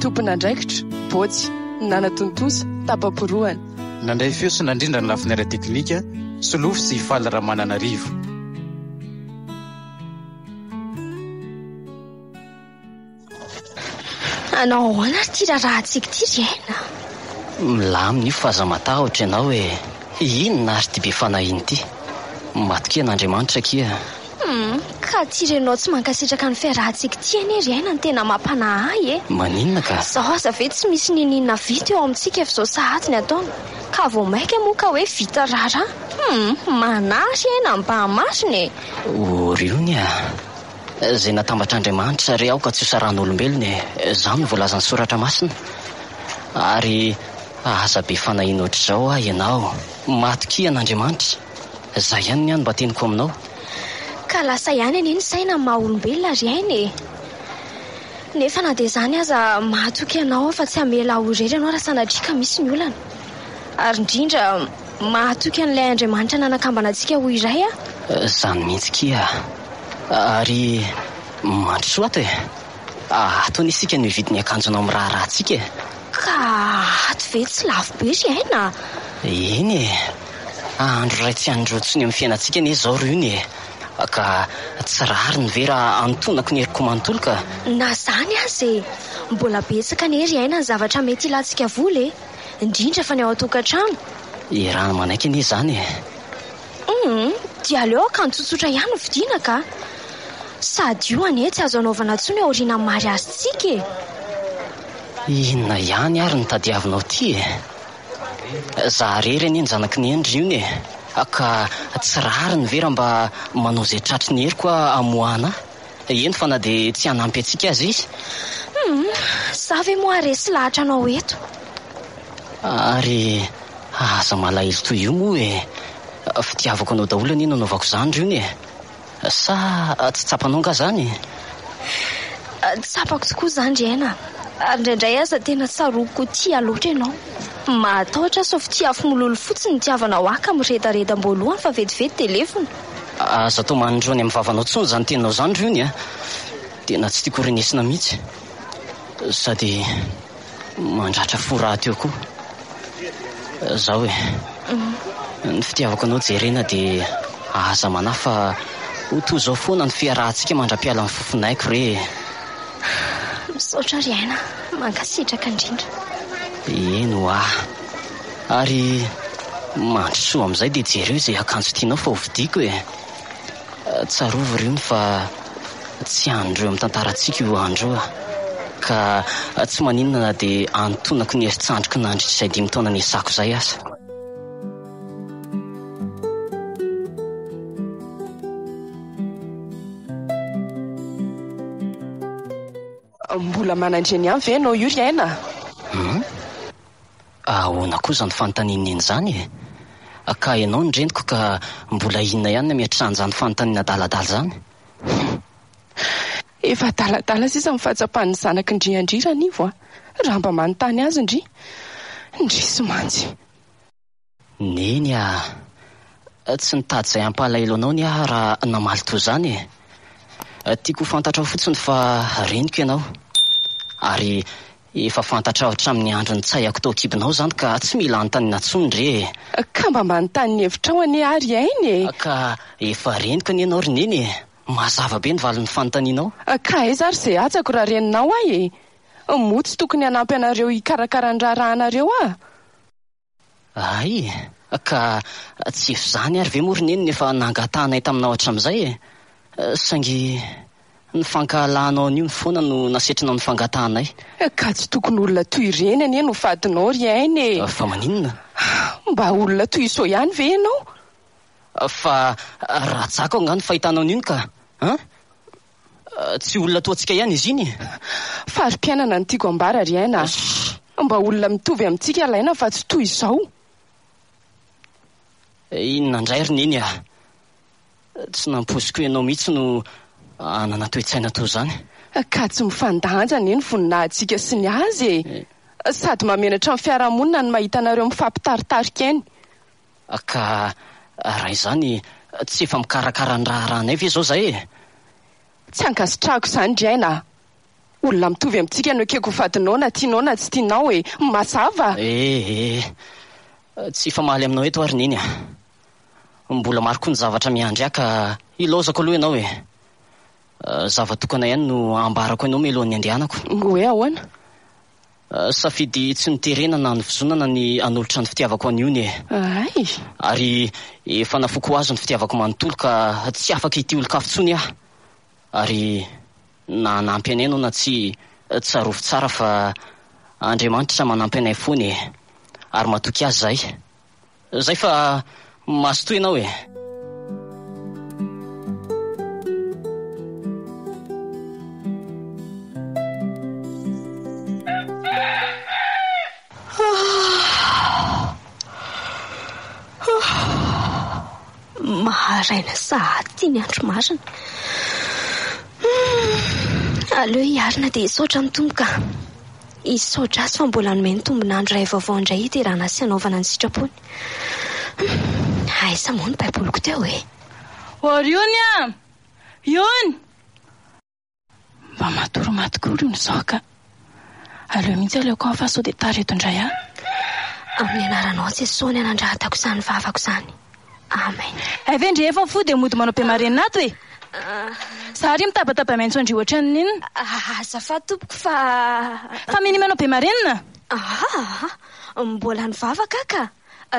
Tompon'andraikitra, Bôtsy, nanatontosa, tapa-porohana. Nandray feo sy nandrindra ny lafiny ara-teknika, Solofo sy Faly Ramananarivo. Hanao ahoana ary ity raharahantsika ity ry Aina? Milamina io fa aza matahotra ianao e! Inona ary ity be fanahiana ity? Matokia an'Andriamanitra akia. Humm, ka tsy renao tsy mankasitraka ny fiarahantsika ity anie ry aina no tena mampanahy ahy e! Maninona ka? Izaho aza ve tsy misy niniana vita eo amintsika efa izao sahady ny ataony ka vao mainka moa ka hoe vita raharaha? Humm, manahy ry aina mba marina e! Oriony a! Izay natambatr'Andriamanitra re aoka tsy ho saran'olombelona e! Izany no voalazan'ny Soratra Masina. Ary aza be fanahiana ohatr'izao ho'a ianao. Matokia an'Andriamanitra. Zah ihany ny an mba teniko aminao. Ka lasa ihany anie ny saina ny maha olombelona ry aina e! Nefa na dia izany aza mahatoky anao aho fa tsy hamela aho irery ianao raha sanatria ka misy ny olana. Ary indrindra mahatoky an'ilay Andriamanitra nanakambana antsika ho iray aho. Zany mihitsy kia. Ary mandrosoa ato e! Ato anie isika no hividy ny akanjonao miraharaha antsika e! Ka ato ve tsy lafo be ry aina a! Eny e! Andro iray tsy handroso ny amin'ny fiainantsika anie izao ry ony e! Ka tsy rariny ve raha anontonako ny heriko manontolo ka! Na izany aza e! Mbola betsaka anie ry aina ny zavatra mety hilantsika vola e! Indrindra fa ny ao an-tokantrano! Iaraha-manaiky anie izany e! Humm, dia aleo akanjo tsotsotra ihany no vidiana ka! Sady io anie tsy azo anaovana intsony aorianan'ny mariazintsika e! Inona ihany ary no tadiavinao ity e? Za irery anie ny zanaky ny Hendry io ne, ka tsy rariny ve raha mba manao izay tratry ny heriko aho hamoahana ahy? Eny fa na dia tsy hanampy antsika aza izy. Humm, za ve moa resy lahatra anao eto? Ary aza malahelo toy io moa e! Fitiavako anao daholo anie no anaovako izany Rony e! Sa tsy tsapanao angaha izany? Tsapako tokoa izany ry aina, ary indraindray aza tena tsaroako tia loatra ianao. Mahatahotra aho sao fitia afo mololo fotsiny ny hitiavanao ahy ka miredareda am-boalohany fa vetivety dia levona. Aza atao maninjao any amin'ny vavanao intsony izany teninao izany ry ony a! Tena tsy tiako renesina mihitsy sady mandratra fo rahateo koa izaho e! Ny fitiavako anao Jerena dia aza manahy fa ho toy izao foana ny fiarahantsika mandra-pialan'ny fofonaiko re e! Misaotra ry Aina, mankasitraka indrindra. Eny hoa. Ary mandrosoa amin'izay dia jereo izay akanjo tianao fa hovidiako e! Tsarovy ry ony fa tsy andro eo amin'ny tantarantsika io andro io ka tsy maninona na dia anontonako ny herin-tsandriko nandritra izay dimy taona niasako izay aza. Mbola manandre ny ahy ve ianao io ry aina? Hum? Ahoana koa izany fanontanian'i Neny izany e? Ka ianao ny reniko ka mbola inona ihany ny hametrahan'izany fanontaniana adaladala izany? Humm. Efa adaladala sisa ny fahatsapan'ny zanak'i Ndry an-dry ranivo a! Raha mba manontany azy ndry. Ndrisy mantsy. Neny a! Tsy nitady izay hampalahelo anao ny ahy raha namaly toa izany e! Tiako ho fantatrao fotsiny fa reniko ianao, ary efa fantatrao hatramin'ny andro nitsahako tao an-kibonao izany ka tsy mila anontaniana intsony re e! Ka mba manontany ny hevitrao anie ary ainy e! Ka efa reniko anie ianao ry Neny e! Mazava be ny valin'ny fanontanianao. Ka aiza ary izay hatsako raha reninao ahy e! Moa tsy tokony hanampy anareo hikarakara ny raharahanareo aho? Hay e! Ka tsy efa izany ary ve moa ry Neny no efa nangatahanay taminao hatramin'izay e! Saingy ny fankahalahanao an'io no foana no nasetrinao ny fangatahanay. Ka tsy tokony olona toy ireny anie no fadinao ry Aina e! Fa maninona? Mba olona toy izao ihany ve ianao? Fa rajako angaha ny fahitana an'io ka an! Tsy olona toa antsika ihany izy iny e! Fari-piainana no tiako ambara ry aina a! Mba olona mitovy amintsika ilay aina fa tsy toy izao! Inona indray ry Neny a! Tsy nampoiziko ianao mihitsy no hanana toe-tsaina toa izany! Ka tsy mifandanja anie ny voninahintsika sy ny azy e! Sady mahamenatra ny fiarahamonina ny mahita anareo mifampitaritarika eny! Ka raha izany, tsy efa mikarakara ny raharahanay ve izao izahay e? Tsy ankasitrahako izany ry aina a! Olona mitovy amintsika no ekeko ho vadinao na tianao na tsy tianao e! Mazava? Eh eh! Tsy hifamaly aminao eto aho ry Neny a! Mbola maro koa ny zavatra miandry ahy ka ilaozako aloha ianao e! Zava-tokana ihany no ambarako anao mialohan'ny andehanako. Hoe ahoana? Safidy tsy niterena na nivozonana ny hanolotra ny fitiavako an'i Ony e. Hay! Ary efa nafoiko ho azy ny fitiavako manontolo ka tsy afaka hitia olon-kafa intsony aho. Ary na hanampy anay ianao na tsia, tsarovy tsara fa Andriamanitra manampy anay foana e. Ary matoky Azy izahay. Zay fa mazotoa ianao e. Maharaina sahady ity ny andro marina. Aleo hiarina dia hisaotra ny Tompo ka. Hisaotra azy fa mbola hanome ny tombon'andro iray vaovao indray hiterahana sy hanaovana ny sitrapony. Humm, aiza moa ny baiboliko teo e? Oriony a! Iony! Mba matory maty koa oriony izao ka! Aleo mihitsy aleoko any fa sao dia tara eto indray aho. Amin'ny anaranao Jesosy no nandrahatako izany vavako izany. Amen. Hay ve ndry efa fo dia mody manao be marenina ato e! Za ary mitabataba miantso an-dry ohatran'ny inona? Azafady tompoko fa. Fa minia manao be marenina? Aa! Mbola nivavaka aho ka!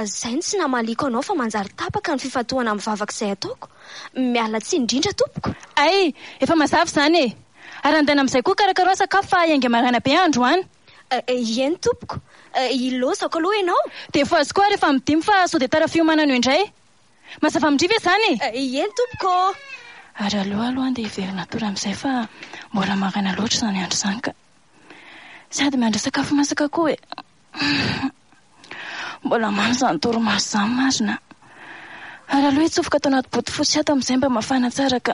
Zay no tsy namaliako anao fa manjary tapaka ny fifantohana amin'ny vavaka izay ataoko. Miala tsiny indrindra tompoko. Hay! Efa mazava izany e! Arandaina amin'izay koa karakaraoa sakafo fa hiainga maraina be aho androany. Eny tompoko, ilaozako aloha ianao. Dia fohazy koa ary efa midimby fa sao dia tara fiomanana eo indray. Mazava amin-dry ve izany e? Eny tompoko ô! Ary aleo aloha andeha hiverina hatory amin'izay fa mbola maraina loatra izany andro izany ka. Sady mandray sakafo masaka koa e! Mbola mamy izany torimaso izany marina a! ary aleo hitsofoka ato anaty bodofotsy ato amin'izay mba mafana tsara ka.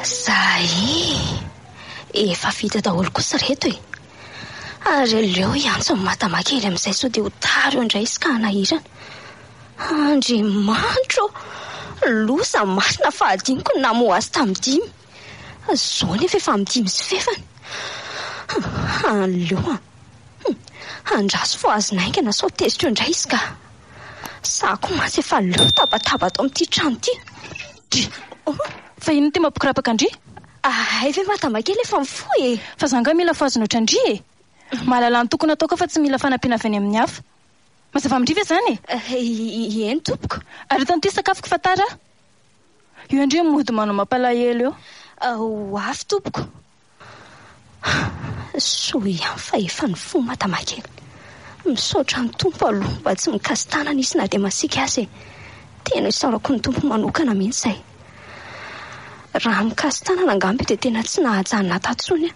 Zay efa vita daholo kosa reto e! ary aleo hiantso an'i Madama kely amin'izay sao dia ho tara eo indray izy ka hanahirana. Andriamanitra ô! Loza marina fa hadinoko ny namoha azy tamin'ny dimy. Izao anefa efa amin'ny dimy sy fefany. Aleo an! Andraso fo azony haingana sao tezitra eo indray izy ka! Sahy koa mantsy efa leo tabataba ato amin'ity trano ity. Ndry! Fa inona ity mampikirapaka an-dry? Hay ve madama kely efa mifoha e! Fa za angaha mila fohazina ohatran'ny ndry e! Mahalala ny tokony hataoko aho fa tsy mila fanampiana avy any amin'ny hafa. Mazava amin-dry ve izany e? Ieny tompoko. Aretan' ity sakafoko fa tara aho. Io indray mody manao mampalahelo io. Ho avy tompoko. Soa ihany fa efa nifoha Madama kely. Misaotra ny Tompo aloha mba tsy mikasi-tanana izy na dia masiaka aza e. Tena isaorako ny Tompo manokana mihitsy izay. Raha mikasy tanana angamba io dia tena tsy nahaja an'i Nata intsony an!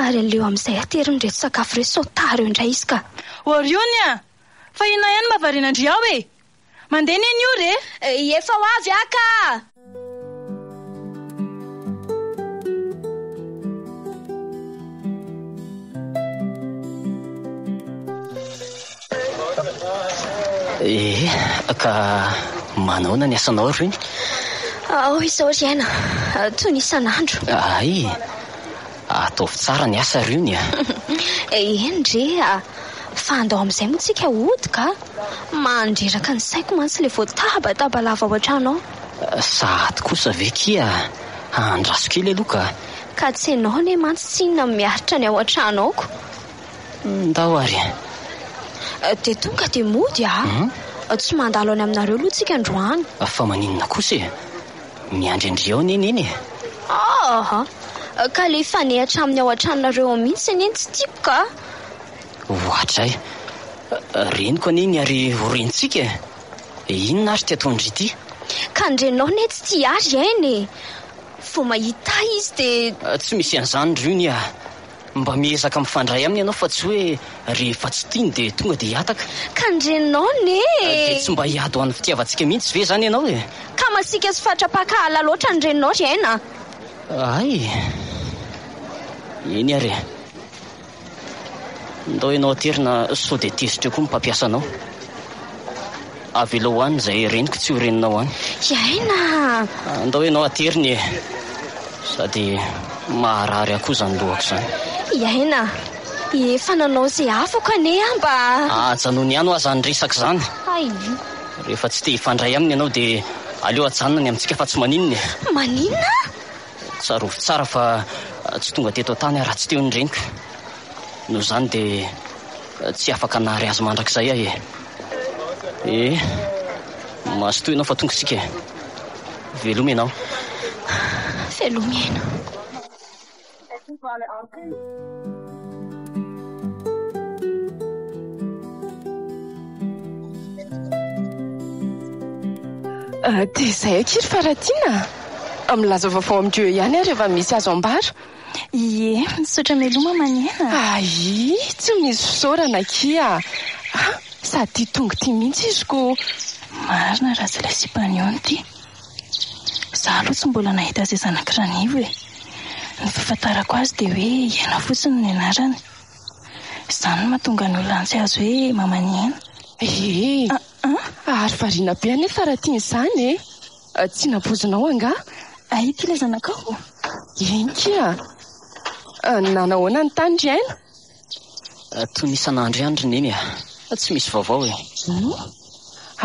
Ary aleo amin'izay ateriny ireto sakafo ireto sao tara eo indray izy ka! Oriony an! Fa inona ihany mba varianandry ao e! Mandeha anie ny ora e! Efa ho avy aho ka! Eh, ka manahoana ny asanao ry Reny? Ao izao ry Aina, toy ny isan'andro. Hay, ataovy tsara ny asa ry Ony a! Eh, eny re a! Fa andao amin'izay moa tsika hody ka! Mandreraka ny saiko mantsy ilay voatabataba lava ao an-trano ao. Sahady kosa ve kia andraso kely aloha ka! Ka tsy ianao anie mantsy tsinona miaritra ny ao an-trano ao ko! Ndao ary. Eh, dia tonga dia mody ah. Hmm? Eh, tsy mandalo any aminareo aloha tsika androany. Ah, fa maninona kosa e? Miandry an-dry ao anie neny e. Ah, eh, ka le fanehatra amin'ny ao an-tranonareo ao mihitsy anie tsy tiako ka. Ohatray. Eh, reniko anie ny ary ho rentsika e. Eh, inona ary ty ataon-dry ity? Ka ny renao ne tsy tia ary aina e. Vao mahita izy dia... Tsy misy an'izany ry io nia. Mba miezaka mifandray aminy ianao fa tsy hoe rehefa tsy tiany dia tonga dia hihataka. Ka ny reninao anie e! Dia tsy mba hiady ho an'ny fitiavantsika mihitsy ve izany ianao e? Ka masiaka sy fatra-pankahala loatra ny reninao ry aina a! Hay! Eny ary e! Ndao ianao aterina sao dia tezitra eo koa ny mpampiasa anao. Avelao any izay reniko tsy ho reninao any. Tsy aina a! Andao ianao haterina e! Sady maharary ahy koa izany lohako izany. I aina a! Efa nanao izay afako anie aho mba. Ajanony ihany hoa izany resaka izany. Hay! Rehefa tsy te hifandray aminy ianao dia aleo ajanona ny amintsika fa tsy maninona e! Maninona? Tsarovy tsara fa tsy tonga teto an-tany aho raha tsy teo ny reniko. Noho izany dia tsy afaka nahary azy mandrakizay aho e! E, mazotoa ianao fa tonga isika e. Veloma ianao. Veloma ianao. Ah, dia izay akia ry Faratiana a! Milaza vaovao amin'ireo ihany ary efa misy azo ambara. Ie, misaotra meloma manena. Aii, tsy misy fisaorana akia a! Ah, sady tia tongo tia mihitsy izy ko! Marina raha tsy ilay sipany eo no tia. Za aloha tsy mbola nahita izay zanaky Ranivo e! Ny fahafantarako azy dia hoe Iaina fotsiny ny anarany. Izany no mahatonga ny olona tsy azo hoe maman'i Iaina. Ee, ary variana be anefa raha tiany izany e! Tsy napoizinao angaha? Aiy ity ilay zanakao ô! Eny kia! Nanahoana ny tany ry Aina? Toy ny isan'andro ihany ry Neny a! Tsy misy vaovao e! Oh!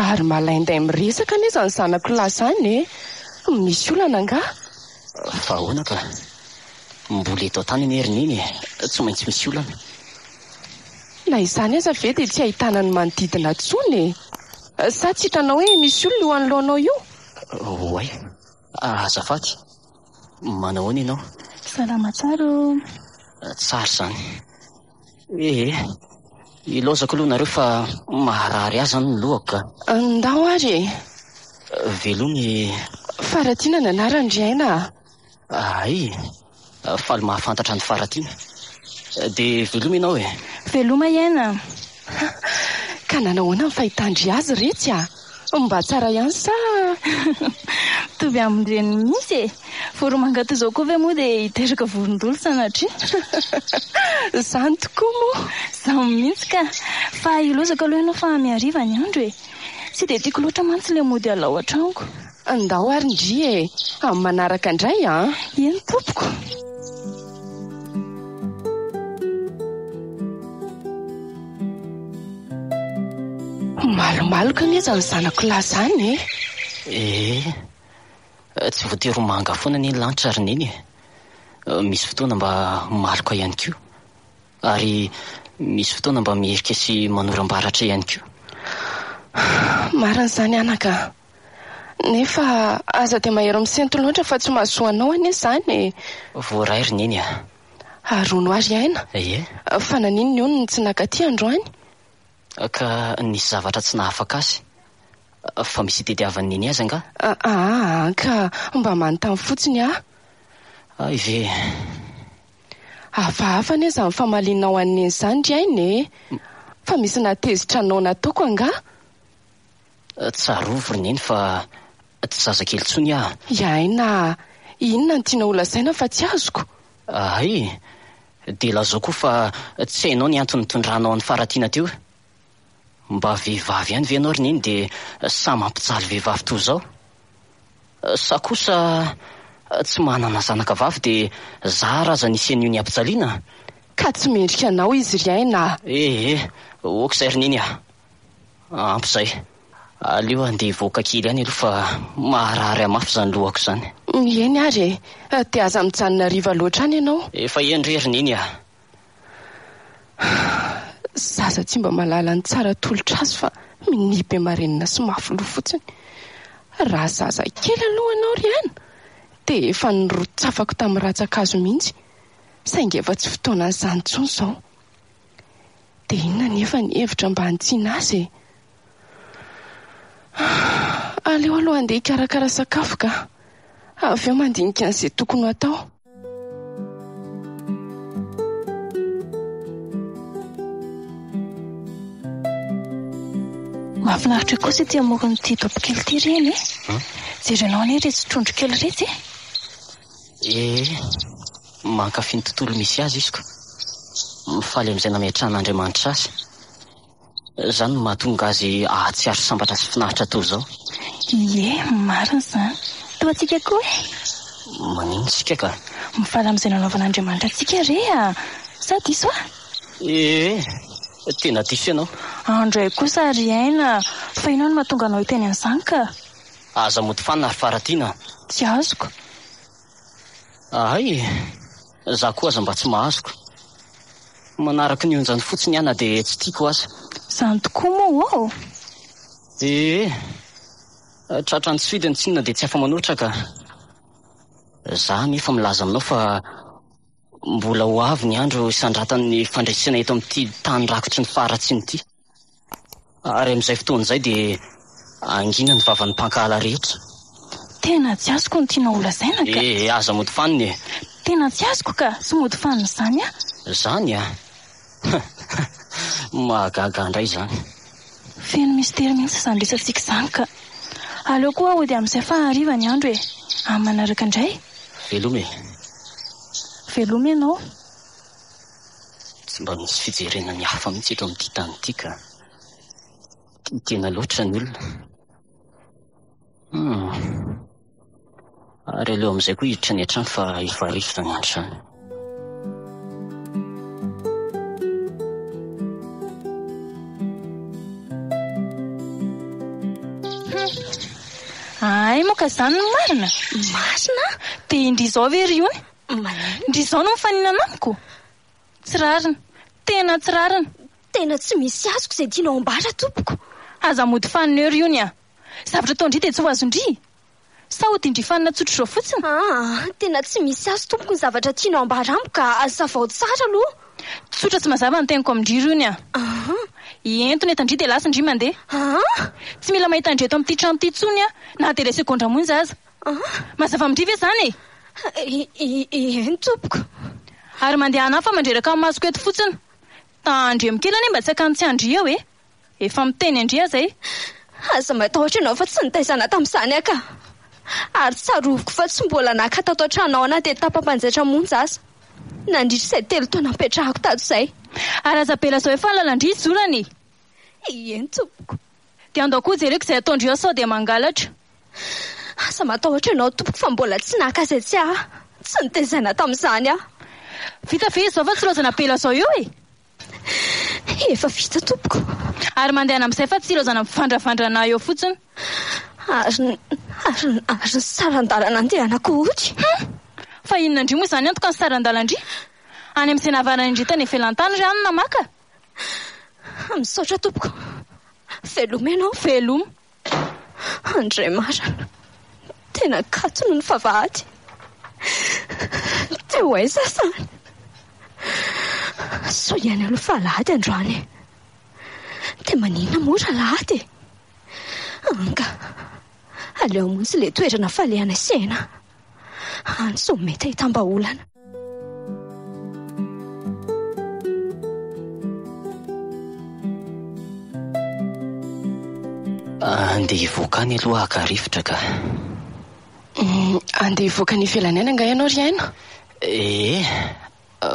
Ary malainday miresaka anie izany zanako lahy izany e! Misy olana angaha? Fa ahoana ka! Mbola eto an-tany anie ry Neny e! Tsy maintsy misy olana. Na izany aza ve dia tsy ahitana ny manodidina intsony e! Sa tsy hitanao hoe misy olona io anoloanao io? Oay. Azafady. Manahoana ianao? Salama tsara ô. Tsara izany. Ee, ilaozako aloha nareo fa maharary ahy izany ny lohako ka. Ndao ary e. Veloma e. Faratiana ny anarany ry aina a. Hay! Faly mahafantatra an'i Faratiana. Dia veloma ianao e! Veloma iena! Ha! Ka nanao ahoana ny fahitan-dry azy ry Retsy a! Mba tsara ihany sa? Mitovy amin-dreniny mihitsy e! Voromanga toy izao koa ve moa dia hiteraka vorondolo sanatria? Izany tokoa moa! Izany mihitsy ka! Fa hilozako aloha ianao fa mihariva ny andro e! Tsy dia tiako loatra mantsy ilay mody alao an-tranoko. Andao ary ndry e! Amin'ny manaraka indray an! Eny tompoko! Malomaloka anie izany zanako lahy izany e! Eh! Tsy voatery ho manga foana anie ny lanitra ry Neny e! Misy fotoana mba maloka ihany koa. Ary misy fotoana mba mihirika sy manoram-baratra ihany koa. Marina izany anaka a! Nefa aza dia mahery misento loatra fa tsy mahasoa anao anie izany e! Voaray ry Neny a! Arono aho ry Aina! Ie? Fa naninona hono no tsy naka aty androany? Ka nisy zavatra tsy nahafaka azy? Fa misy itediavan'i Neny azy angaha? Aa ka mba manontany fotsiny aho. Hay ve! Hafahafa anie izany famalianao an'i Neny izany ry aina e! Fa misy nahatezitra anao nataoko angaha? Tsarovy ry Neny fa tsy zazakely intsony aho. I Aina a! Inona no tianao holazaina fa tsy azoko? Hay! Dia lazao koa fa tsy hainao ny antony nitondranao an'i Faratiana teo. Mba vehivavy ihany ve ianao ry Neny dia sahy mampijaly vehivavy toa izao? Sa kosa tsy manana zanaka vavy dia zara aza ny sen'io ny hampijaliana? Ka tsy mendrika anao izy ry Aina a! Ehe, ok izay ry Neny a! Ampy izay. Aleo handeha hivoaka kely ihany aloha fa maharary ahy mafy izany lohako izany. Eny ary e! Dia aza mijanona hariva loatra any ianao. Efa eny re ry Neny a! Zaza tsy mba mahalala ny tsara tolotra azy fa minia be marenina sy mafy loha fotsiny. Raha zaza kely aloha ianao ry an! dia efa nirotsafako tamin'ny ratsan-kazo mihitsy, saingy efa tsy fotoanan'izany intsony izao. Dia inona anefa ny hevitra mba hanitsiana azy e? Aleo aloha handeha hikarakara sakafo ka. Avy eo mandinika an'izay tokony ho atao. Mahafinaritra kosa ety amoron'ity dobo kely ity ry eny e. Jerenao anie iretsy trondro kely iretsy e. Ee, mankafy ny tontolo misy azy izy ka. Mifaly amin'izay nametrahan'Andriamanitra azy. Izany no mahatonga azy hahatsiaro sambatra sy finaritra toy izao. Ie, marina izany. Toa antsika koa e! Maninona isika ka? Mifaly amin'izay nanaovan'Andriamanitra antsika re a! Sa diso aho? Ee, tena diso ianao. Andray kosa ry aina, fa inona no mahatonga anao hiteny an'izany ka? Aza mody fanina ry Faratiana a! Tsy azoko. Ahay e! Za koa aza mba tsy mahazoko. Manaraka ny onjany fotsiny aho na dia tsy tiako aza. Zany tokoa moa oo! Ee! Tratra any Sude ny tsinona dia tsy afa-manoatra ka! Za anefa milaza aminao fa mbola ho avy ny andro hisandratan'ny fandresena eto amin'ity tany rakotry ny faharatsiana ity. Ary amin'izay fotoana izay dia hangina ny vavan'ny mpankahala rehetra. Tena tsy azoko ny tianao holazaina ka. Eh, aza mody fanina e! Tena tsy azoko ka, tsy mody fanina izany aho. Izany a! Mahagaga indray izany. Feno mistery mihitsy izany resatsika izany ka. Aleo koa hody amin'izay fa hariva ny andro e! Amin'ny manaraka indray. Veloma e! Veloma ianao. Tsy mba misy fijerena ny hafa mihitsy eto amin'ity tany ity ka. Tia tena loatra ny olona. Hum. Ary aleo amin'izay koa hiditra any an-trano fa efa hariva izany andro izany. Hay moa ka izany no marina? Marina? Dia indrisy izao ve ry ony? Ndry izao no mifaninana amiko? Tsy rariny. Tena tsy rariny. Tena tsy misy azoko izay tianao ambara tompoko. Aza mody fanina eo ry ony a! Zavatra ataon-dry dia tsy ho azon-dry? Sa odian-dry fanina tsotra izao fotsiny? Aa! Tena tsy misy azo tompoko ny zavatra tianao ambara amiko ka azavao tsara aloha. Tsotra sy mazava ny teniko amin-dry ry ony a! Aa! Ento ny entan-dry dia lasan-dry mandeha. Aa! Tsy mila mahita an-dry eto amin'ity trano ity intsony aho na dia ilay segondra monja aza. Mazava amin-dry ve izany e? Eny tompoko. Ary mandehana hafa mandreraka ny masoko eto fotsiny. Tandremo kely anie mba tsy hakany tsy an-dry eo e! Efa miteny an-dry aza ahy. Aza matahotra ianao fa tsy nitaizana tamin'izany aho ka. Ary tsaroviko fa tsy mbola naka tato an-trano ao anaty etapa mpanjaitra monja aza nandritra izay telo taona nipetrahako tato izay. Ary aza be lazao efa ny lalan-dry izorana e! Eny tompoko. Dia andao koa jereko izay ataondry eo sao dia mangalatra. Aza matahotra ianao tompoko fa mbola tsy naka izay tsy ahy. Tsy notezaina tamin'izany aho. Vita ve izao fa tsy ilaozana be lazao eo e? Efa vita tompoko. Ary mandehana amin'izay fa tsy ilaozana mivandravandrana eo fotsiny. Ary ny, ary ny, ary ny saran-dalana andehanako hoy? Hum! Fa inona indry moa izany antoka ny saran-dalan-dry? Any amin'izay nahavarana indry tany ivelan-tany ry anona maka? Misaotra tompoko veloma ianao veloma Andriamarina tena kato noho ny favahady dia ho aiza izany soa ihany aloha fa alahady androany e dia maninona moa raha alahady e anga aleo montsy ilay toerana falehanay sy aina Antso mety ahitam-bahaolana. Andeha hivoaka any aloha haka rivotra ka. Andeha hivoaka any ivelany any angaha ianao ry Aina? Ee.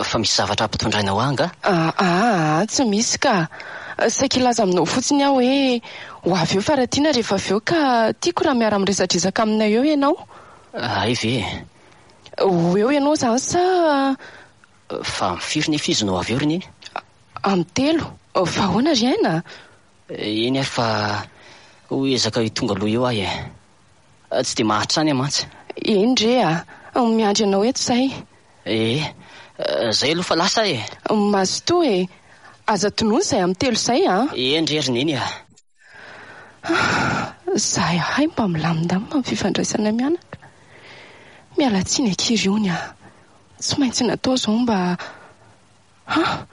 fa misy zavatra ampitondraina ho ahy angaha? Aa, tsy misy ka! Saika hilaza aminao fotsiny aho hoe ho avy eo fa raha tiana rehefa avy eo ka tiako raha miara-miresadresaka aminay eo ianao. Hay ve e! Ho eo ianao izany sa? Fa amin'ny firy nefa izy no ho avy eo ry Neny? Amin'ny telo. Fa ahoana ry Aina? Eny ary fa ho ezaka ho tonga aloha eo aho e! Tsy dia mahatrany aho mantsy. Eny re a! Miandry anao eto zahay. Ee, zay aloha fa lasa aho e! Mazotoa e! Aza tonony zay amin'ny telo zay a! Eny re ry Neny a! Zahay mba milamindamina amin'ny fifandraisanay mianaka. Miala tsiny akia ry ony a! Tsy maintsy natao izao mba. Ha!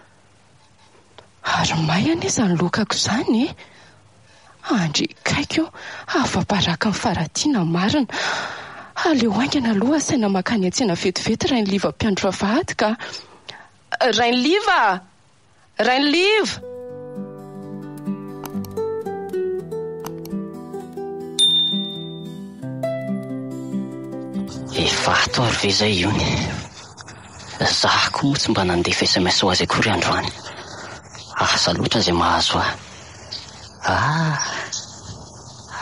Ary may anie izany lokako izany e! Andry kaiky o! Afa-baraka ny faratiana marina! Aleo haingana aloha asaina mankany an-tsena vetivety Rainiliva mpiandry vavahady ka! Rainiliva a! Rainiliva! Efa ato ary ve izay ony? Za ko moa tsy mba nandefa sms ho azy akory androany. Asa loatra izay mahazo ahy. Ah!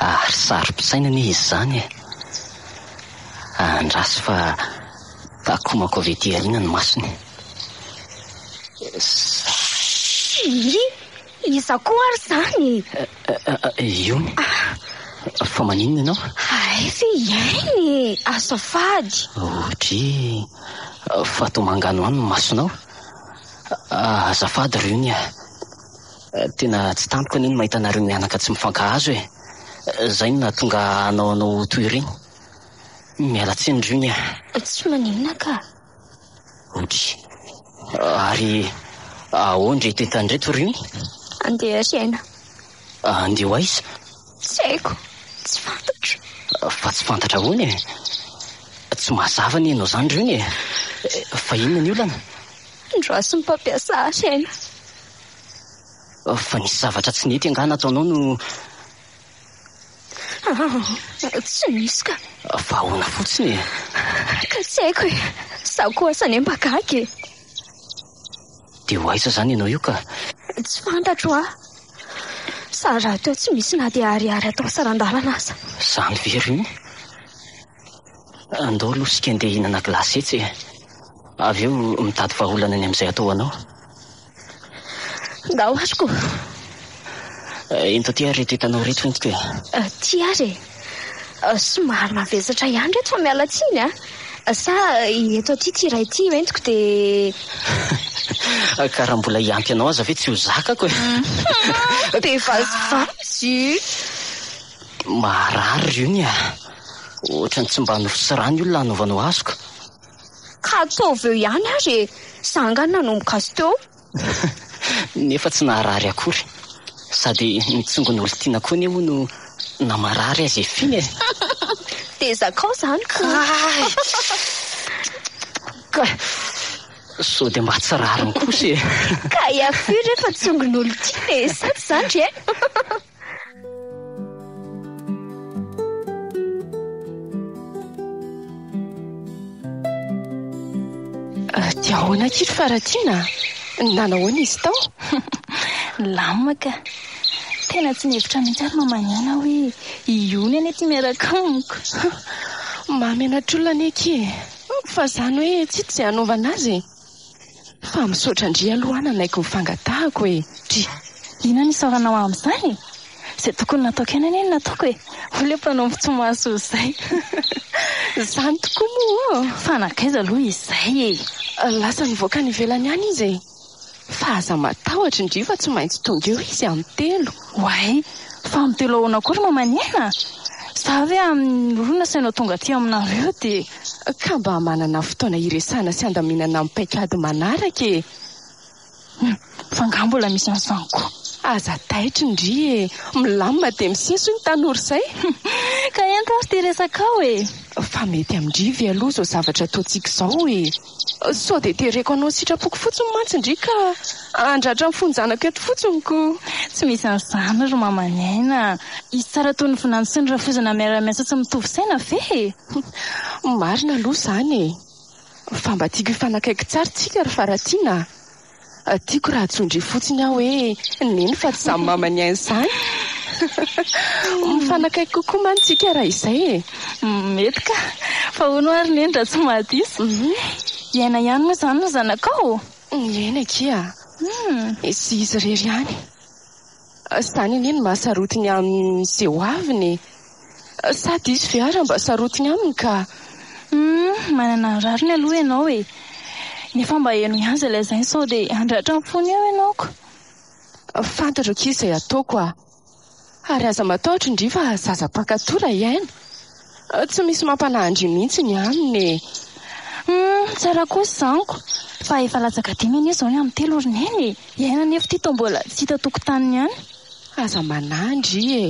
Ary saropisaina anie izy izany e! Andraso fa takomako avy ety aoriana ny masony. Shhh! Iza koa ary izany e? Iony. Fa maninona ianao? Hay ve hiaina e! Azafady. Odry, fa toa manganohano ny masonao. Azafady ry ony a! Tena tsy tampoka anie ny mahita anareo mianaka tsy mifankahazo e! Izay no nahatonga ahy hanao anao ho toy ireny. Miala tsiny ry ony a! Tsy maninona ka. Omby. Ary ahoan reto entana reto ry ony? Andeha hiaina. Andeha ho aiza? Tsy haiko. Tsy fantatro. Fa tsy fantatra ahoana e? Tsy mazava anie ianao izany ry ony e! Fa inona ny olana? Andraso ny mpampiasa ahy aina. Fa nisy zavatra tsy nety angaha nataonao no Ah, tsy misy ka. Fa ahoana fotsiny e? Ka tsy haiko e. Za koa asa anie mba gaga e. Dia ho aiza zany ianao io ka? Tsy fantatro ah. Sa raha teo tsy misy na dia ariary atao saran-dalana aza. Zany ve ry iny? Andao aloha isika ndeha hihinana glace etsy e. Avy eo mitady vahaolana ny amin'izay atao ho anao. Ndao ary ko! Ento aty ary ireto hitanao ireto fentiko e! Aty ary e! Somary mavesatra ihany ireto fa miala tsiny a! Sa eto aty ity iray ity io entiko dia. Ka raha mbola hiampy anao aza ve tsy ho zakako e! Be vazivazy io! Marary ry ony a! Ohatran'ny tsy mba nofo sy rano io ny lany novanao azoko. Ka ataovy eo ihany ary e! Za angaha nanomboka azy teo. Nefa tsy naharary akory. Sady ny tsongon'olon-tiana koa anie hono namarary azy efiny e! Dia zakao zany ko! Kay! Kay! Sao dia mba tsy rariny kosa e! Kay afiry re fa tsongon'olon-tiana e! Sa tsy zany re? Dia ahoana akia ry Faratiana? Nanahoana izy tao? Lamina ka. Tena tsy nihevitra mihitsy ary mamanina aho hoe hiony anie ity miaraka amiko. Mahamenatr'olona anie akia e. Fa izany hoe tsy hita izay hanaovana azy e. Fa misaotra ndry aloha nanaiky ny fangatahako e! Dry. Inona no isaoranao amin'izany e? Izay tokony nataoko ihany anie no nataoko e! Hoy ilay mpanompo tsy mahasoa izay. Izany tokoa moa ô! Fa nankaiza aloha izay e? Lasa nivoaka any ivelany any izy e! Fa aza matahotra ndry fa tsy maintsy tonga eo izy amin'ny telo. Oay! Fa am telo ahoana koa ry mamanina? Za ve amin'ny roa nasainao tonga aty aminareo dia. Ka mba manana fotoana hiresahana sy handaminana amin'ny paikady manaraka e! Humm! Fa angaha mbola misy an'izany koa? Aza taitry ndry e! Milamina dia miseso iny tanora izay! Ka ento ary ity resakao e! Fa mety amin-dry ve aloha izao zavatra ataontsika izao e! Sao dia tereko anao sitrapoko fotsiny mantsy ndry ka handratra ny fonjanako eto fotsiny ko! Tsy misy an'izany ry maman'i Aina a! Hisy tsara toy ny vinany sy ny rafozana miara-miasa sy mitovy saina ve e? Marina aloha izany e! Fa mba tiako hifanakaiky tsara tsika ry Faratiana a! Tiako raha atsondry fotsiny aho hoe neny fa tsy zany mama niain izany. Mifanakaiky kokoa mantsy tsika raha izay e. Mety ka. Fa hono hoa ry neny raha tsy mahadiso? Hiaina ihany moa izany ny zanakao? Miaina akia. Sy izy irery ihany. Izany anie no maha sarotiny aminy izay ho aviny e! Sa diso ve ary raha mba sarotiny aminy ka? Humm manana ny rariny aloha ianao e! Nefa mba heno ihany izay lazainy sao dia handratra ny fony eo ianao ko! Fantatro akia izay ataoko a! Ary aza matahotra ndry fa zaza mpankatò raha hiaina! Tsy misy mampanandry mihitsy ny aminy e! Humm, tsara kosa izany ko! Fa efa latsaka dimy anie izao ny amin'ny telo ry Neny e! Iainana anefa ity toa mbola tsy hita tokotaniny ihany. Aza manandry e!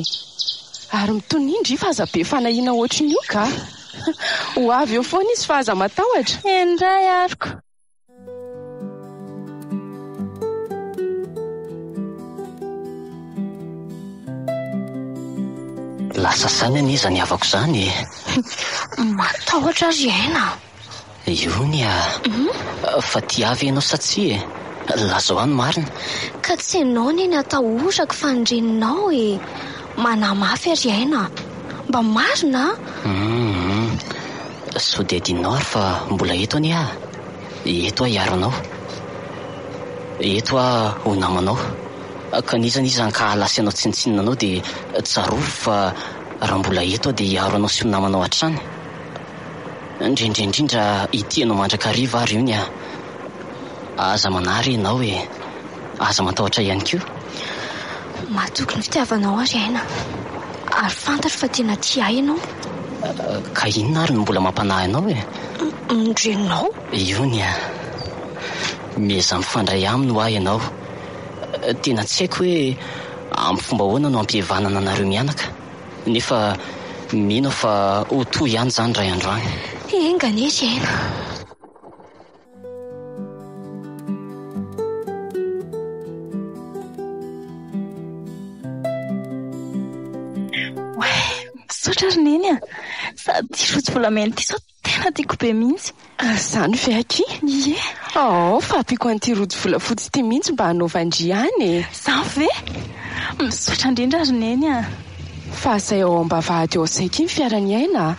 Ary mitonia ndry fa aza be fanahiana ohatrin'io kah! Ho avy eo foana izy fa aza matahotra! Eny indray aroko! Lasa saina anie izany havako izany e. Matahotra azy aina. Iony a. Mhm. Fa tiavy ianao sa tsy e? Lazao ahy ny marina. Ka tsy ianao anie ny atahorako fa ny reninao e. Manahy mafy ry aina a! Mba marina a! Hum sao dia adinonao ary fa mbola eto anie aho. Eto aho hiaro anao. Eto aho ho namanao. Ka n'iza n'iza hankahala asianao tsinontsinona anao dia tsarovy fa raha mbola eto aho dia hiaro anao sy ho namanao hatrany. Indrindra indrindra ity ianao mandrakariva ary ony ah! Aza manary ianao e! Aza matahotra ihany koa! Mahatoky ny fitiavanao aho ry aina, ary fantatro fa tena tia ahy ianao. Ka inona ary no mbola mampanahy anao e? Ny reninao. Ony ah! Miezaha mifandray aminy hoa ianao. Tena tsy haiko hoe amin'ny fomba ahoana no ampihevanana anareo mianaka. Nefa mino aho fa ho toa ihany izany indray andro any. Enga anie hiaina. Misaotra ry Neny a! Sady rojo volamena ity sao Tena tiako be mihitsy. Ary izany ve akia? Ie. Aao fa ampiako an'ity rojo volafotsy ity mihitsy mba hanaovan-dry any e. Izany ve? Misaotra indrindra ry Neny a. Fa izay ao am-bavahady ao izay akia ny fiaran'i Aina a.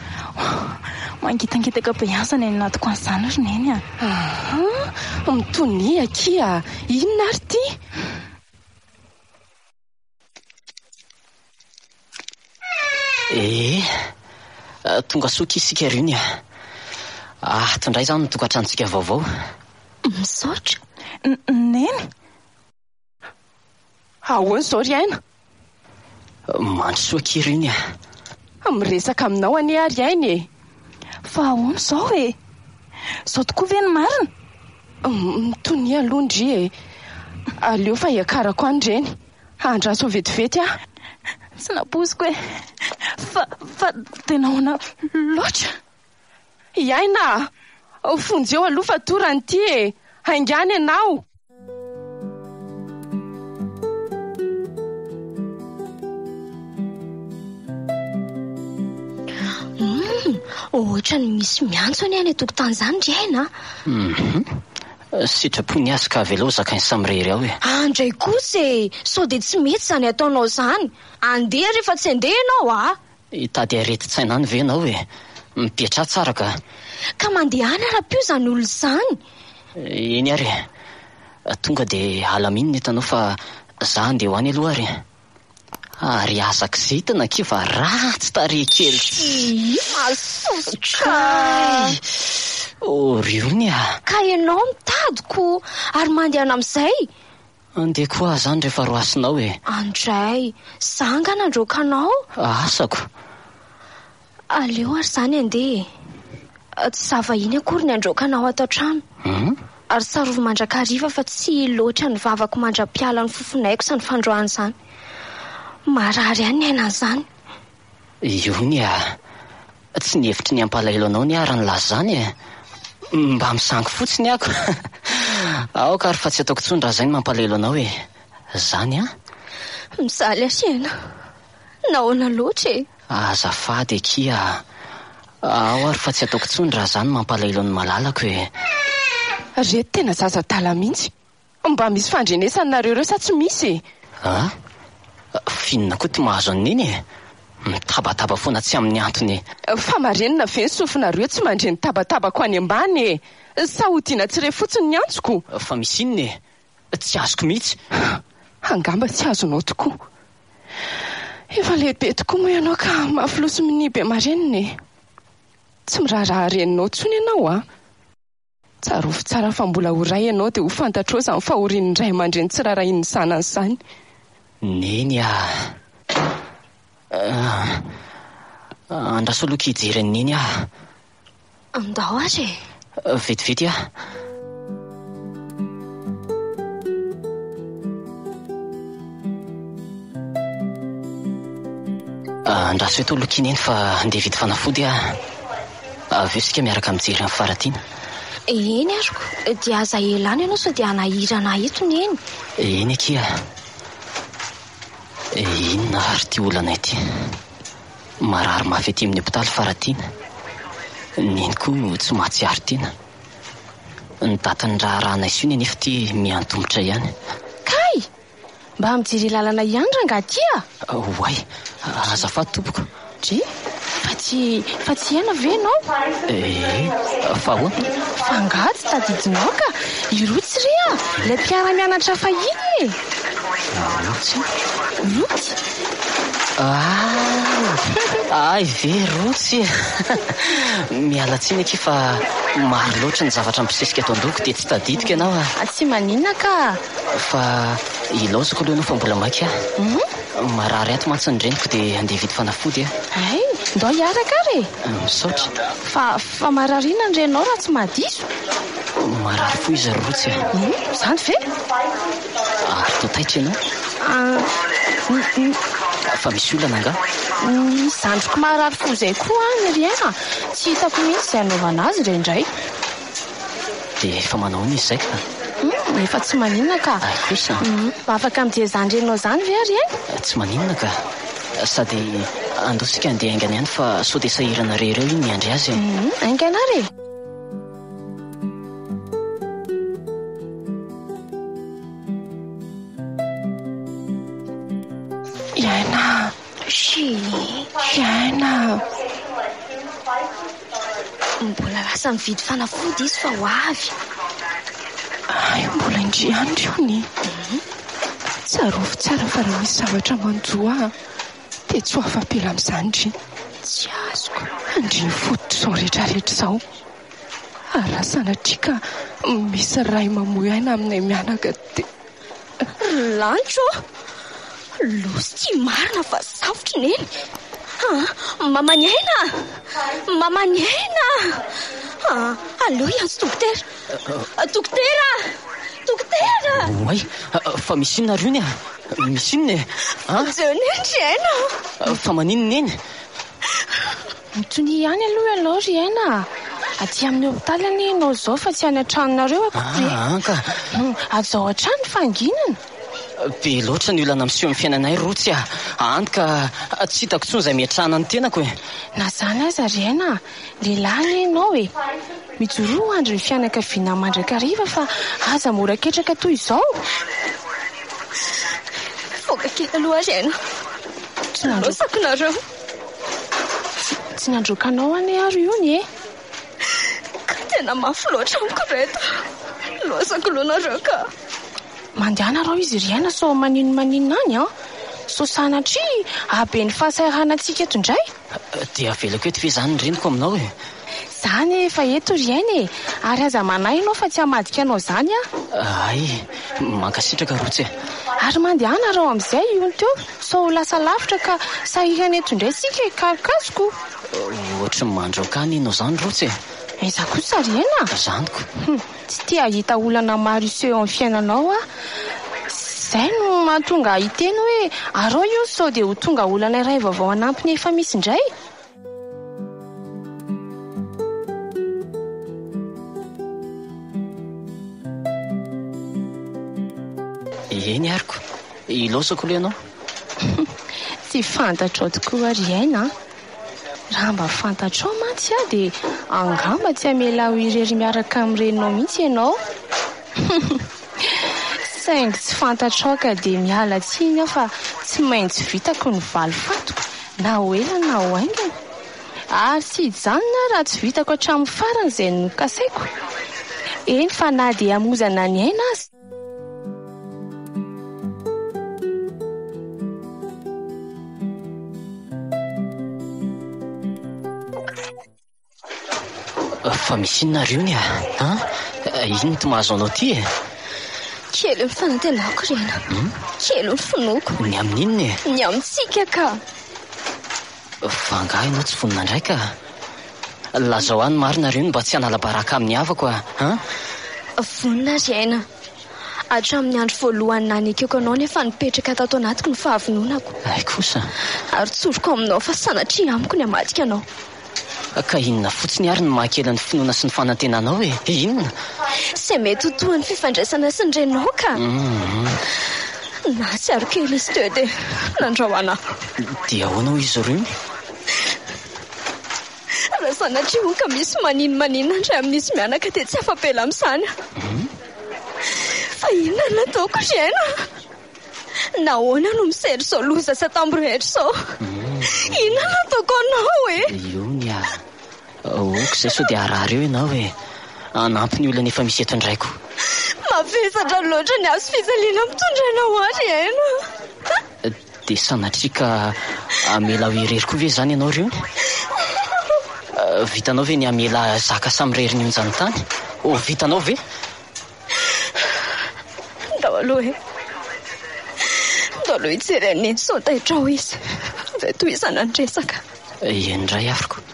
Mangitangitaka be ihany izany any anaty coin izany ry Neny a. Ahaa, mitonia akia. Inona ary ity? Ee, tonga soa akia isika ry Unia. Ato indray izany ny tokantranontsika vaovao. Misaotra, Neny. Ahoana izao ry Aina? Mandrosoa akia ry Unia. Fa miresaka aminao anie ary ainy e! Fa ahoana izao e? Izao tokoa ve ny marina? Mitonia aloha ndry e! Aleo fa hiakarako any ireny, handraso vetivety aho. Tsy nampoiziko e! Fa, fa dia nahoana loatra? I Aina a! Vonjeo aloha fa torany ity e! Haingano ianao! Ohatran'ny misy miantso anie any an-tokotany izany ry Aina a! Sitrapo ny azy ka avelao zakainy samy irery ao e! Andray kosa e! Sao dia tsy mety izany ataonao izany! Andeha rehefa tsy handeha ianao a! Hitady aretin-tsaina any ve ianao e? Mipetraha tsara ka! Ka mandehana ara-peo izany olona izany! Eny ary e! Tonga dia alaminina eto ianao fa za handeha ho any aloha ary e! Ary aza kizitina akia fa ratsy tarehy kely! Tsyii! Mahasosotra! Kay! Ory ony a! Ka ianao mitady ko ary mandehana amin'izay? Andeha koa aho zany rehefa roasinao e! Andray, za angaha nandroaka anao? Asako! Aleo ary zany andeha e! Tsy za vahiny akory ny handroaka anao ato an-trano. Hum? Ary tsarovy mandrakariva fa tsy loatra ny vavako mandra-piala ny fofon'aiko izany fandroana izany. Marary ihany ny aina an'izany. Io ny ahy. Tsy ny hevitry ny hampalahelo anao ny ahy raha nilaza izany e! Mba misangy fotsiny ako! Aoka ary fa tsy ataoko intsony raha izay no mampalahelo anao e! Izany an! Mijaly ahy ianao. Nahoana loatra e? Azafady akia a! Ao ary fa tsy ataoko intsony raha izaho no mampalahelo an'i Malalako e! Ry reto tena zaza adala mihitsy. Mba misy fandrenesany nareo ireo sa tsy misy e? Ah? Finina koa ty mahazo an'i Neny e! Mitabataba foana tsy amin'ny antony e! Fa marenina ve ny sofinareo tsy mandre ny tabatabako any ambany e! Sa hodiana tsy re fotsiny ny antsoko? Fa misy inona e? Tsy azoko mihitsy! Angamba tsy azonao tokoa! Efa lehibe tokoa moa ianao ka mafy loha sy minia be marenina e! Tsy miraharaha reninao intsony ianao an! Tsarovy tsara fa mbola ho ray ianao dia ho fantatrao izany fahorian'ny ray aman-dreny tsy raharahian'ny zanany izany. Neny a! Andraso aloha akia hijery an'i Neny aho. Andao ary e! Vetivety a! Andraso eto aloha akia Neny fa handeha hividy fanafody aho. Avy eo isika miaraka mijery an'i Faratiana. Eny aroko, dia aza ela any ianao sao dia hanahirana ahy eto Neny. Eny akia. Inona ary ity olana ity? Marary mafy aty amin'ny hopitaly Faratiana. Neny koa no tsy mahatsiaro tena. Ny datin'ny raharahanay sy io Neny efa ity miantomotra ihany. Kay! Mba mijere lalana ihany rangah aty a! Oay! Azafady tompoko. Dry! Fa tsy, fa tsy hiaina ve ianao? Ee! Fa ahoana? Fa angaha tsy tadidinao ka! I Rotsy re a! Ilay mpiara-mianatra fahiny e! Rotsy? Rotsy! Ah! Ay ve Rotsy e! Miala tsiny akia fa maro loatra ny zavatra mibosesika eto an-dohako dia tsy tadidiko ianao a! Tsy maninona ka! Fa ilaozako aloha ianao fa mbola maika aho. Marary aty mantsy ny reniko dia handeha hividy fanafody aho. Hay, ndao hiaraka ary e! Misaotra. Fa, fa marary inona ny reninao raha tsy mahadiso? Marary fo izy ry Rotsy a! Hum, izany ve? Ary toa taitra ianao? Ah, Fa misy olana angaha? Ny zandriko marary fo izay koa an, ry Hery a! Tsy hitako mihitsy izay hanaovana azy re indray. Dia efa manao ahoana izy izay ka? Hum, efa tsy maninona ka. Hay kosa. Hum, afaka mijery izany renao izany ve ry aina? Tsy maninona ka. Sady andao isika handeha haingana ihany fa sao dia sahirana re ireo iny miandry azy e. Hum, haingana ary e. I Aina. Tsia, aina mbola lasa mividy fanafody izy fa ho avy. Hay mbola indry andry io ny. Mhm. Tsarovy tsara fa raha misy zavatra manjo ahy dia tsy ho afa-pela amin'izany ndry. Tsy azoko. Andriny fototrizao rehetrarehetra izao. Ary raha sanatria ka misy ray mamoy aina aminay mianaka dia. Lanitra ô! Losy ity marina fa zavotry Neny a! Maman'i Aina a! Maman'i Aina a! Aleo hiantso dokotera. Dokotera! Dokotera! Oay! Fa misy inona ry ony a? Misy inona e? Jereo Neny ry Aina a! Fa maninona Neny? Antonia ihany aloha ianao ry aina a! Aty amin'ny hopitaly anie ianao izao fa tsy any an-tranonareo akory e! Aa ka! Hajao hatrany ny fahanginana! Be loatra ny olana miseho amin'ny fiainanay ry Rotsy a! Hany ka tsy hitako intsony izay miatrana ny tenako e! Na izany aza ry aina a! Lehilahy anie ianao e! Mijoroa ho andry ny fianakavianao mandrakariva fa aza mora ketraka toy izao. Nivoaka kely aloha ary ianao. Tsy nandroaka nareo. Tsy nandroaka anao anie ary io anie. Ka tena mafy loatra amiko ireto. Lozako loha nareo ka. Mandehana rao izy ry aina sao maninonmaninona any an. Sao sanatria hahabe ny fahasahiranantsika eto indray. Dia avelako eto ve izany ny reniko aminao e? Za anie efa eto ry aina e! Ary aza manahy ianao fa tsy hamadika anao izany aho. Hay e! Mankasitraka Rotsy e! Ary mandehana raho amin'izay io teo sao ho lasa lavitra ka sahirana eto indray isika e! Karokazoko! Ohatry ny mandroaka ahy ny hino izany Rotsy e! Aiza kosa ry aina? Zaniko! Tsy te hahita olana maro hiseho eo amin'ny fiainanao aho. Izay no mahatonga ahy hiteny hoe, arao io sao dia ho tonga olana iray vaovao hanampy ny efa misy indray. Eny ary ko. Ilaozako aloha ianao. Tsy fantatrao tokoa ary aina a! Raha mba fantatrao mantsy aho dia angamba tsy hamela ahy ho irery miaraka amin'ny reninao mihitsy ianao. Saingy tsy fantatrao ka dia miala tsiny aho fa tsy maintsy vitako ny valifatiko na ho ela na ho haingana. Ary tsy hijanona aho raha tsy vitako hatramin'ny farany izay nokasaiko, eny fa na dia hamozana ny aina aza. Fa misy inona ary io ny a? Ah, inona no mahazo anao ty e? Kely ny fanantenako ry aina. Hmm? Kely ny finoako. Ny amin'inona e? Ny amintsika ka. Fa angaha ianao tsy vonona indray ka? Lazao ahy ny marina re no mba tsy hanala baraka amin'ny havako a! an! Vonona ry aina. Hatramin'ny andro voalohany nanekeko anao nefa nipetraka tato anatiko ny fahavononako. Hay kosa! Ary tsoriko aminao fa sanatria amiko ny hamadika anao. Ka inona fotsiny ary no mahakely ny finoana sy ny fanantenanao e? Inona? Izay mety ho tohin'ny fifandraisana sy ny renao ka! Hum. Nahatsiaro kely izy teo dia nandrao anà. Dia ahoana hoy izy ireo? Raha sanatria hono ka misy maninomanino ny ray amin'izy mianaka dia tsy afa-pela amin'izany aho. Fa inona no ataoko ry aina? Nahoana no misera izao loza sy atambro rehetra izao? Inona no ataoko anao e? Io ny ahy. Aoka izay sao dia harary eo ianao e! Hanampy ny olana efa misy eto ny raiko. Mavesatra loatra ny hazo fijaliana mitondra anao aho ry Aina. Dia sanatria ka hamela aho irery koa ve izany ianao ry ony? Vitanao ve ny hamela zaka samirery ny onjan'ny tany? Oh, vitanao ve? Ndao aloha e! Ndao aloha hijery an'i Neny sao taitrao izy vao tohizana ny resaka. Eny indray aroko.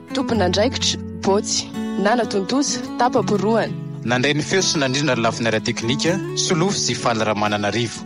Tompon'andraikitra, Bôtsy, nanatontosa, tapa-porohana. Nandray ny feo sy nandrindra ny lafiny ara-teknika, Solofo sy Faly Ramananarivo.